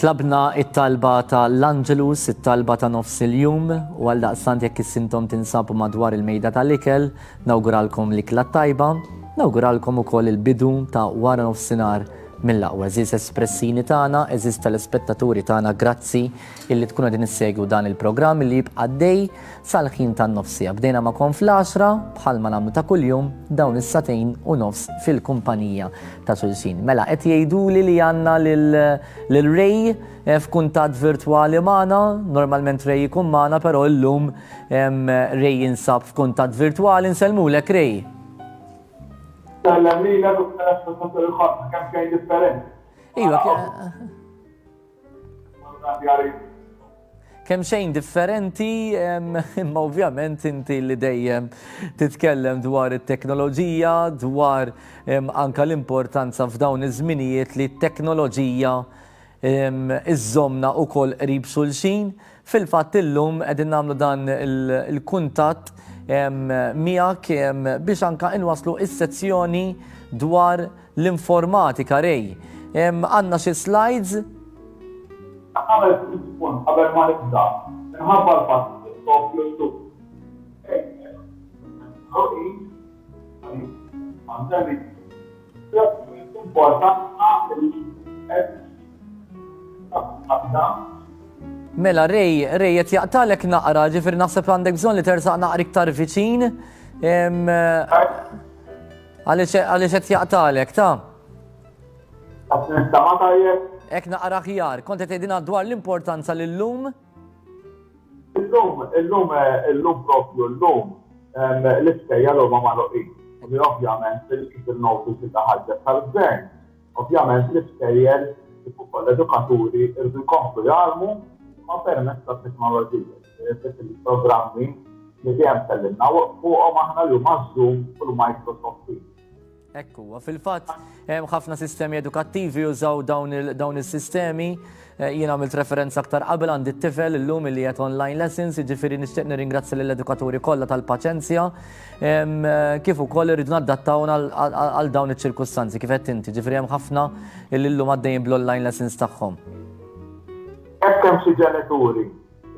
Tlabna it-talba ta' l-Angelus, it-talba ta' nofs il-jum, u għal daqsant jekk is-sintom tinsabu madwar il-mejda tal-ikel, nawguralkom l-ikla tajba, nawguralkom ukoll il-bidu ta' wara nofsinhar Mill-aqwa għeżież espressini tagħna, għeżież telespettaturi tagħna grazzi illi tkunu qegħdin issegwu dan il-programm illi jibqa' għaddej sal-ħin tan-nofsija. Bdejna magħkom fl-għaxra bħalma nagħmlu ta' kuljum dawn is-sagħtejn u nofs fil-kumpanija ta' xulxin. Mela qed jgħiduli li għandna lil lil Ray eh, f'kuntatt virtwali magħna, normalment Ray ikun magħna però llum em, Ray jinsab f'kuntatt virtwali nsellmulek Ray. Tellem lilek u tellem fil-fatt il-ħadd kemm xejn differenti. Iva, kemm xejn differenti, imma ovvjament inti li dejjem titkellem dwar it-teknoloġija, dwar anka l-importanza f'dawn iż-żminijiet li t-teknoloġija iżżommna wkoll qrib xulxin. Fil-fatt illum qegħdin nagħmlu dan il-kuntatt miegħek biex anke inwasslu s-sezzjoni dwar l-informatika. Ray, għandna xi slides? Nagħmel ftit spunt qabel ma nibda minħabba l-fatt li qed noffru llum training għall-employees, għaliex ma nsemmix Mela Ray, Ray qed jaqtalek naqra, ġifieri naħseb għandek bżonn li tersaq naqra iktar viċin. Għaliex qed jaqtalek ta'. Ek naqra ħjar, kont qed tgħidilna dwar l-importanza li llum. lum Illum, illum, illum propju llum l-iskejjel huma magħluqin. U din ovvjament kif innoti sinda ħarġet tal-Gvern, ovvjament l-iskejjel kif ukoll l-edukaturi jridu jkomplu jgħallmu imma permezz tat-teknoloġija. Ġifieri il-programmi li dejjem tkellimna fuqhom aħna li huma Zoom u l-Microsoft Teams. Hekk huwa. Fil-fatt, hemm ħafna sistemi edukattivi jużaw dawn is-sistemi. Eh, jien għamilt referenza aktar qabel għandi t-tifel illum li qed online lessons, jiġifieri nixtieq nirringrazzja lill-edukaturi kollha tal-paċenzja eh, kif ukoll irridu naddattaw għal dawn iċ-ċirkustanzi kif qed inti, ġifieri hemm ħafna illum għaddejjin bl-online lessons tagħhom. Hekk hemm xi ġenituri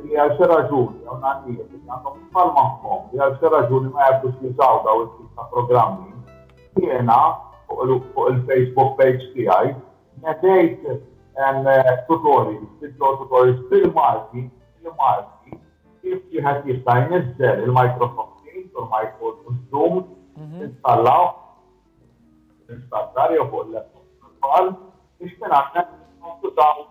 li għal xi raġuni jew nannijiet li għandhom tfal magħhom li għal xi raġuni ma jafux jużaw daw it-tip ta' programmi, jiena fuq il-Facebook page tiegħi nedejt tutorials, video tutorials bil-Malti, bil-Malti, kif wieħed jista' jniżżel il-Microsoft Teams u l-Microsoft Zoom mhm. installaw installare o con la principal, e sperare non tutt'altro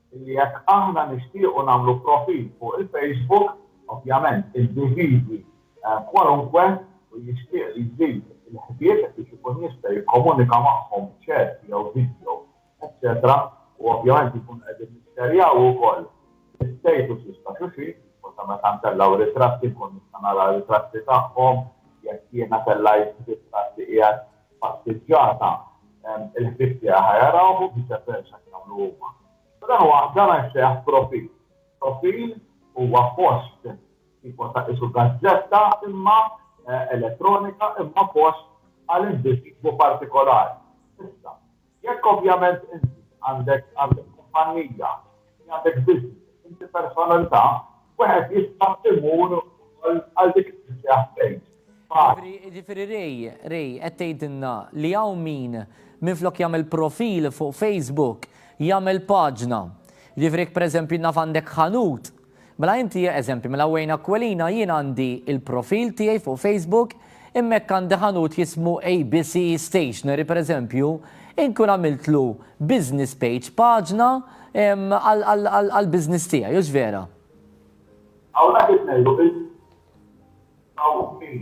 illi jekk aħna nixtiequ nagħmlu profil fuq il-Facebook, ovvjament individwi kwalunkwe u jixtieq li jżid il-ħbieb biex ikun jista' jikkomunika magħhom b'chat jew video, eċċetera u ovvjament inkunu qegħdin nixxerjaw ukoll l-istatuses ta' xulxin, u sa meta ntellgħu ritratti nkun nista' nara ritratti tagħhom, jekk jiena tellgħajt ritratti qiegħed passiġġata il-ħbieb tiegħi ħa jarawh u viċe versa kif jagħmlu huma. U dan huwa dan jissejjaħ profil. Profil huwa post tipo ta' qisu gazzetta imma elettronika imma post għal individwu partikolari. Issa, Jekk ovvjament inti għandek għandek kumpannija, inti għandek business, inti personalità, wieħed jista' imur ukoll għal dik li tissejjaħ page. Ġifieri, ġifieri Ray, Ray, qed tgħidilna li hawn min minflok jagħmel profil fuq Facebook, jagħmel paġna. Ġifieri jekk pereżempju naf għandek ħanut, Mela inti eżempju mela wejn Aquilina jien għandi il-profil tiegħi fuq Facebook imma jekk għandi ħanut jismu ABC Stationery per eżempju inkun għamiltlu business page paġna għall-business tiegħi hux vera? Hawn qed ngħidu bil-Maltin.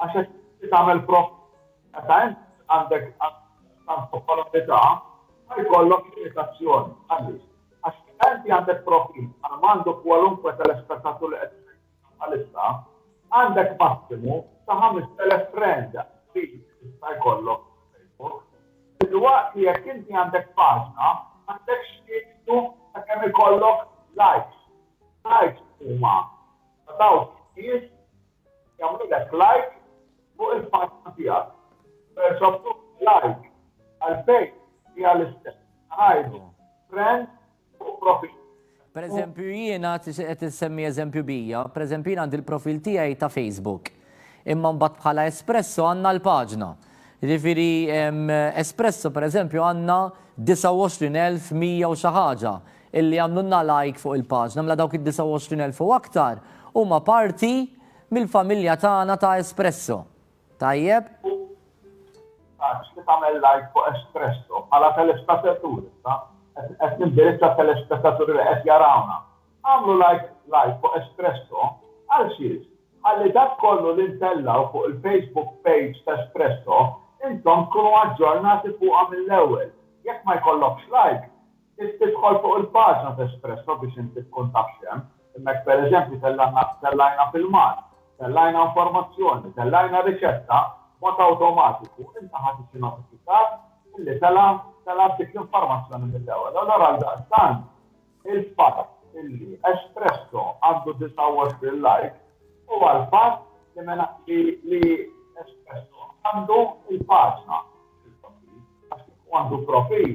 Għax hekk inti tagħmel profit. Meta int għandek tant popolarità, ma jkollok limitazzjoni. Għaliex? Għax meta inti għandek profit bħal m'għandu kwalunkwe telespettatur li qed isegwina bħalissa, għandek massimu ta' 5,000 friend li jista' jkollok Facebook. Filwaqt li jekk inti għandek paġna, m'għandekx limitu ta' kemm ikollok likes. Likes huma ta' dawk in-nies jagħmlulek like fuq il-paġna tiegħek. Persa b'kull like għal page hija l-istess. Ngħidu friend fuq profil. Pereżempju jiena qed insemmi eżempju bija, pereżempju jiena għandi l-profil tiegħi ta' Facebook. Imma mbagħad bħala Espresso għandna l-paġna. Jiġifieri Espresso pereżempju għandna 29,100 u xi ħaġa. illi għamlulna like fuq il-paġna mela dawk id-29,000 u aktar huma parti mill-familja tagħna ta' Espresso. Tajjeb? U tistaqsix li tagħmel like fuq Espresso bħala telespetatur issa, qed nindirizza t-telespetaturi li qed jarawna. Agħmlu like fuq Espresso għal xiex? Ħalli dak kollu li ntellgħu fuq il-Facebook page ta' Espresso intom tkunu aġġornati fuqha mill-ewwel. Jekk ma jkollokx like, Trid tidħol fuq il-paġna t'Espresso biex inti tkun taf x'hemm. Hemmhekk pereżempju tellgħajna filmat, tellgħajna informazzjoni, tellgħajna riċetta, b'mod awtomatiku inta ħa tiġi notifikat illi telgħa telgħat dik l-informazzjoni mill-ewwel. Allura għaldaqstant il-fatt illi Espresso għandu 29 like huwa l-fatt li mela li li Espresso għandu l-paġna fil-profil għax kieku għandu profil,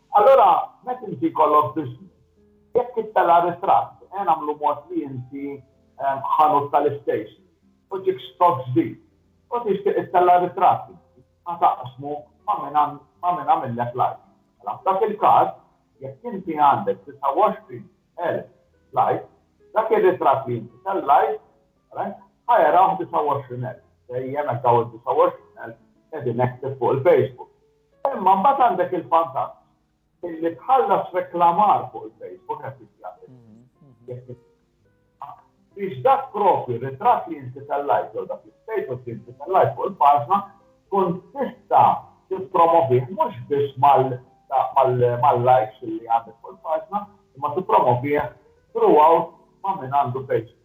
Allura, meta inti jkollok business, jekk tittella' ritratt, ejja nagħmlu mod li inti ħanut tal-istationery u ġiek stock ġdid u tixtieq ittella' ritratt inti, ħa taqsmu ma' min għamillek like. Mela f'dak il-każ, jekk inti għandek 29,000 likes, dak ir-ritratt li inti tellajt, alright, ħa jarawh 29,000, dejjem hekk dawn id-29,000 qegħdin active fuq il-Facebook. Imma mbagħad għandek il-vantaġġ illi tħallas reklamar fuq il-Facebook qed jitjagħmel. Biex dak propju ritratt li inti tellajt jew dak l-istatus li inti tellajt fuq il-paġna tkun tista' tippromovih mhux biss mal-likes li għandek fuq il-paġna, imma tippromovih throughout ma' min għandu Facebook.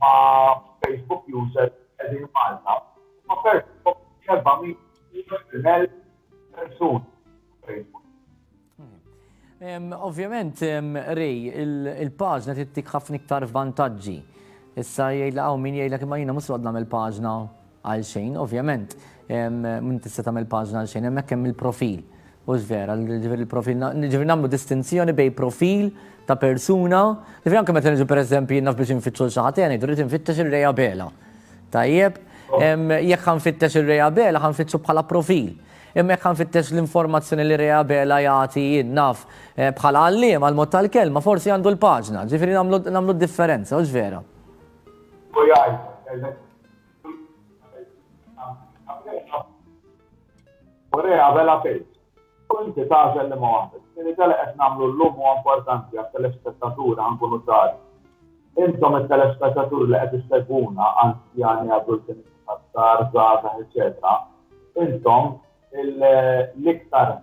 ma' Facebook users li qegħdin Malta huma persuni minn 420,000 persuna fuq Facebook. Ovvjament, Ray, il-paġna tittik ħafna iktar vantaġġi. Issa jgħidlek hawn min jgħidlek imma jiena mhux noqgħod nagħmel paġna għal xejn, ovvjament, m'int tista' tagħmel paġna għal xejn, hemmhekk hemm il-profil. Hux vera, ġifieri l-profil, ġifieri nagħmlu distinzjoni bejn profil ta' persuna, ġifieri anke meta niġu pereżempju jien naf biex infittxu xi ħadd, ngħidu rrid infittex ir-Reja Bela. Tajjeb, jekk ħanfittex ir-Reja Bela ħanfittxu bħala profil. Imma jekk ħanfittex l-informazzjoni li Reja Bela jagħti jien naf bħala għalliem għall-mod tal-kelma forsi għandu l-paġna, ġifieri nagħmlu differenza, hux vera? Korea vela fejn. U inti tagħżel liema waħda. Ġifieri dali qed nagħmlu llum huwa importanti għat-telespettaturi ħa nkunu ċari. Intom it-telespettaturi li qed issegwuna, anzjani, adulti, nisa, żgħar, żgħażagħ, eċċetera, intom l-iktar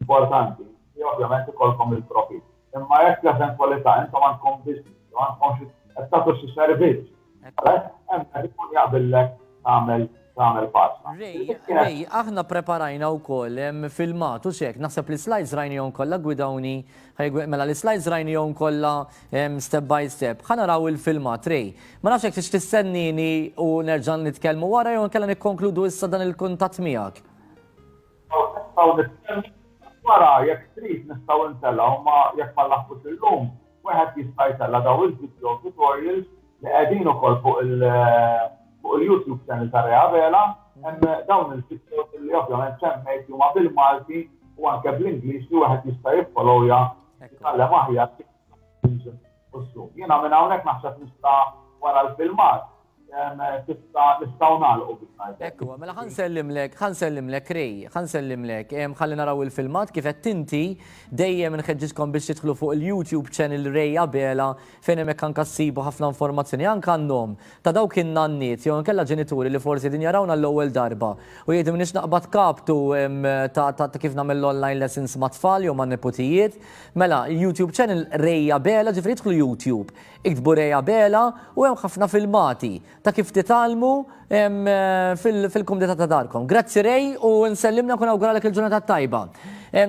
importanti li ovvjament ikollkom il-profit. Imma jekk fl-eventwalità intom għandkom business, jew għandkom xi qed tagħtu xi servizz, hemmhekk ikun jaqbillek tagħmel tagħmel pasta. Rej, aħna preparajna wkoll filmat u xek, naħseb li slides rajnihom kollha gwidawni, mela li slides rajnihom kollha step by step. Ħa naraw il-filmat rej. Ma nafx hekk tix tistennini u nerġa' nitkellmu wara jew nkella nikkonkludu issa dan il-kuntatt miegħek. Hawn nistgħu nistennew iżda wara jekk trid nistgħu ntelgħu ma jekk ma nlaħqux illum wieħed jista' jtella' dawn il-video tutorials li qegħdin ukoll fuq il fuq il-YouTube channel ta' Rea Vela hemm dawn il-videos li ovvjament semmejt li huma bil-Malti u anke bl-Ingliż li wieħed jista' jiffollowja jitgħallem aħjar Muslu. Jiena minn hawnhekk naħseb nista' wara l-filmat tista' nistgħu nagħlqu biex ngħidlek. Hekk huwa, mela ħa nsellimlek, ħa nsellimlek Ray, ħa nsellimlek. Ħalli naraw il-filmat kif qed inti, dejjem inħeġġiġkom biex tidħlu fuq il-YouTube channel Ray Abela fejn hemmhekk anke ssibu ħafna informazzjoni anke għan-nom ta' dawk in-nanniet jew inkella ġenituri li forsi qegħdin jarawna l-ewwel darba u jgħidu m'iniex naqbad kaptu ta' kif nagħmel l-online lessons mat-tfal jew man-neputijiet. Mela, il-YouTube channel Reja Bela, ġifri idħlu YouTube, iktbu Reja Bela u hemm ħafna filmati ta' kif titgħallmu fil-kumdita ta' darkom. Grazzi Rej u nsellimna kun awguralek il-ġurnata tajba.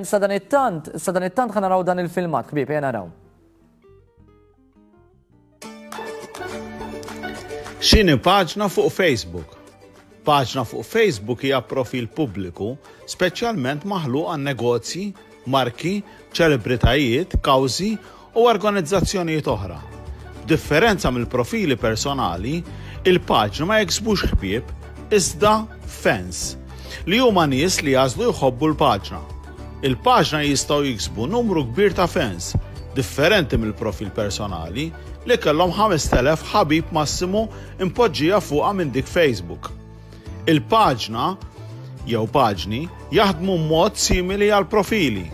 Sadan it-tant, sadan it-tant ħanaraw dan il-filmat, ħbieb, ejja naraw. X'inhi paġna fuq Facebook? Paġna fuq Facebook hija profil pubbliku speċjalment maħluq għan negozji, marki, ċelebritajiet, kawżi u organizzazzjonijiet oħra. B'differenza mill-profili personali, il-paġna ma jiksbux ħbieb iżda fans li huma nies li għażlu jħobbu l-paġna. Il-paġna jistgħu jiksbu numru kbir ta' fans, differenti mill-profil personali, li kellhom 5,000 ħabib massimu impoġġija fuqha minn dik Facebook. Il-paġna jew paġni jaħdmu mod simili għal profili.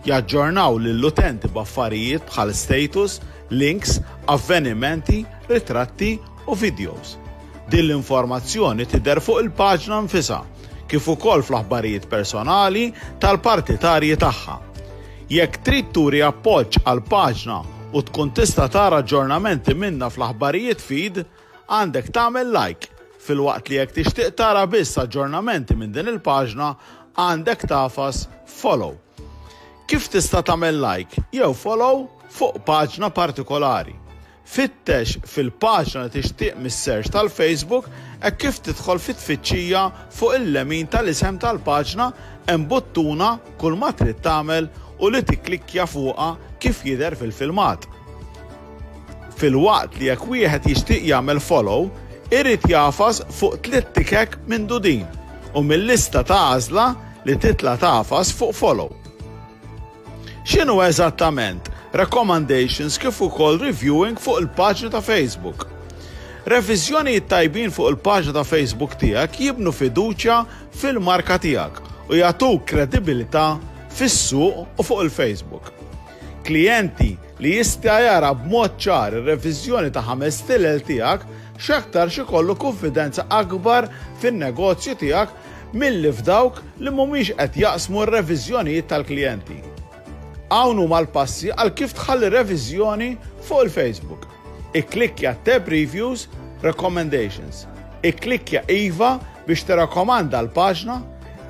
Jaġġornaw lill-utenti b'affarijiet bħal status, links, avvenimenti, ritratti u videos. Din l-informazzjoni tidher fuq il-paġna nfisha, kif ukoll fl-aħbarijiet personali tal-partitarji tagħha. Jekk trid turi appoġġ għall-paġna u tkun tista' tara aġġornamenti minnha fl-aħbarijiet feed, għandek tagħmel like, filwaqt li jekk tixtieq tara biss aġġornamenti minn din il-paġna għandek tagħfas follow. Kif tista' tagħmel like jew follow fuq paġna partikolari? Fittex fil-paġna li tixtieq mis-search tal-Facebook hekk kif tidħol fi tfittxija fuq il-lemin tal-isem tal-paġna hemm buttuna Kulma trid tagħmel u li tikklikkja fuqha kif jidher fil-filmat. Filwaqt li jekk wieħed jixtieq jagħmel follow irid jagħfas fuq tliet tikek mindu din u mil-lista ta' għażla li titla' tagħfas fuq follow. X'inhu eżattament Recommandations kif ukoll Reviewing fuq il-paġni ta' Facebook? Reviżjonijiet tajbin fuq il-paġna ta' Facebook tiegħek jibnu fiduċja fil-marka tiegħek u jagħtuk kredibilità fis-suq u fuq il-Facebook. Klijenti li jista' jara b'mod ċar ir-reviżjoni ta' ħames stilel tiegħek x'aktarx ikollu kunfidenza akbar fin-negozju tiegħek milli f'dawk li mhumiex qed jaqsmu r-reviżjonijiet tal-klijenti. Hawn huma l-passi għal kif tħalli reviżjoni fuq il-Facebook. Ikklikkja t-tab Reviews, Recommendations. Ikklikkja Iva biex tirrakkomanda l-paġna,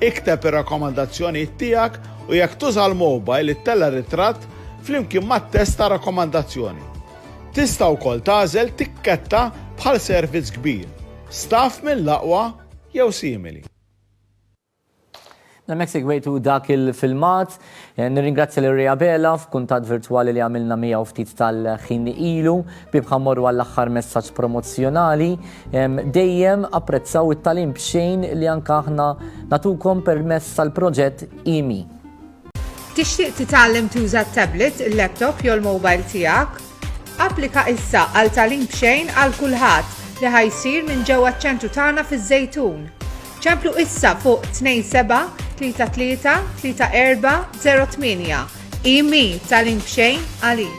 ikteb ir-rakkomandazzjonijiet tiegħek u jekk tuża l-mowbajl ittella' ritratt flimkien mat-test tar-rakkomandazzjoni. Tista' wkoll tagħżel tikketta bħal servizz kbir, staff mill-aqwa, jew simili. Hemmhekk segwejtu dak il-filmat. Eh, nirringrazzja lil Rea Bela f'kuntatt virtwali li għamilna miegħu ftit tal-ħin ilu bib ħammorru għall-aħħar messaġġ promozzjonali. Dejjem apprezzaw it-talim b'xejn li anke aħna natukom permess tal-proġett IMI. Tixtieq titgħallem tuża t-tablet, il-laptop jew il-mowbajl tiegħek? Applika issa għal Tagħlim B'Xejn għal Kulħadd li ħa jsir minn ġewwa ċ-ċentru tagħna fiż-Żejtun. Ċemplu issa fuq 27333408. IMI Tagħlim B'Xejn għalik.